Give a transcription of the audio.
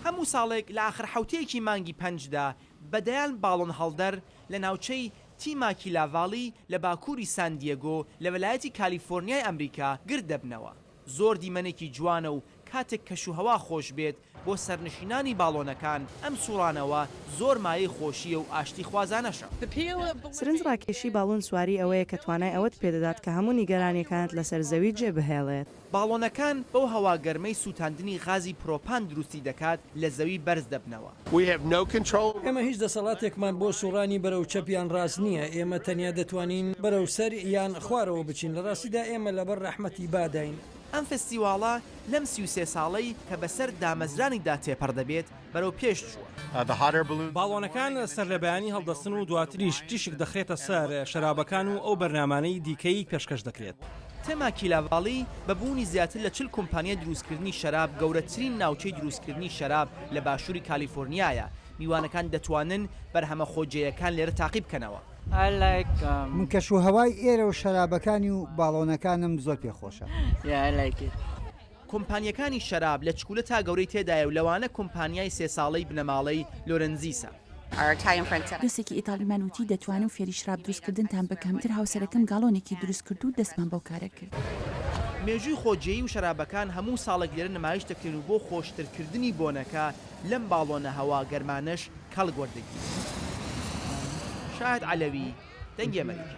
هەموو ساڵێک لە ئاخر حەوتەیەکی مانگی پەنجدا بە دەیان باڵۆن هەڵدەر لە ناوچەی تیماکیلا ڤالی لە باکووری سان دیێگۆ لە وەلایەتی کالیفۆرنیای ئەمریکا گرد دەبنەوە. زۆر دیمەنێکی جوانە و کاتێک کەشوهەوا خۆش بێت بۆ سەرنشینانی باڵۆنەکان، ئەم سووڕانەوە زۆر مایەی خۆشییە و ئاشتیخوازانەشە. سرنج ڕاکێشی باڵۆن سواری ئەوەیە کە توانای ئەوەت پێ دەدات کە هەموو نیگەرانییەکانت لەسەر زەوی جێ بهێڵێت. باڵۆنەکان بەو هەوا گەرمەی سووتاندنی غازی پرۆپان دروستی دەکات لە زەوی بەرز دەبنەوە. ئێمە هیچ دەسەڵاتێکمان بۆ سوڕانی بەرەو چەپ یان ڕاست نییە، ئێمە تەنیا دەتوانین بەرەو سەر یان خوارەوە بچین، لە ڕاستیدا ئێمە لەبەر ڕەحمەتی باداین. ئەم فستیواڵە لەم سی و سێ ساڵەی کە بەسەر دامەزرانیدا تێپەڕ دەبێت، بەرەو پێش چووە. باڵۆنەکان سەرلەبەیانی هەڵدەستن و دواتریش تیشک دەخرێتە سەر شەرابەکان و ئەو بەرنامانەی دیکەی پێشکەش دەکرێت. تێماکیلاڤالی بە بوونی زیاتر لە چل کۆمپانیای دروستکردنی شەراب گەورەترین ناوچەی دروستکردنی شەراب لە باشووری کالیفۆرنیایە، میوانەکان دەتوانن بەرهەمە خۆجێیەکان لێرە تاقی بکەنەوە. من کەشوهەوای ئێرە و شەرابەکانی و باڵۆنەکانم زۆر پێخۆشە. کۆمپانیەکانی شەراب لە چکولە تا گەورەی تێدایە و لەوانە کۆمپانیای سێ ساڵەی بنەماڵەی لۆرنزیسە. دۆستێکی ئیتاڵیمان وتی، دەتوانم فێری شراب دروستکردنتان بکەم، تر هاوسەرەکەم گاڵۆنێکی دروستکرد و دەستمان بەو کارە کرد. مێژووی خۆجێی و شەرابەکان هەموو ساڵێک لێرە نمایش دەکرێن و بۆ خۆشترکردنی بۆنەکە لەم باڵۆنە هەوا گەرمانەش کەڵک وەردەگیرێت. شاهد عەلەوی، دەنگی ئەمەریکا.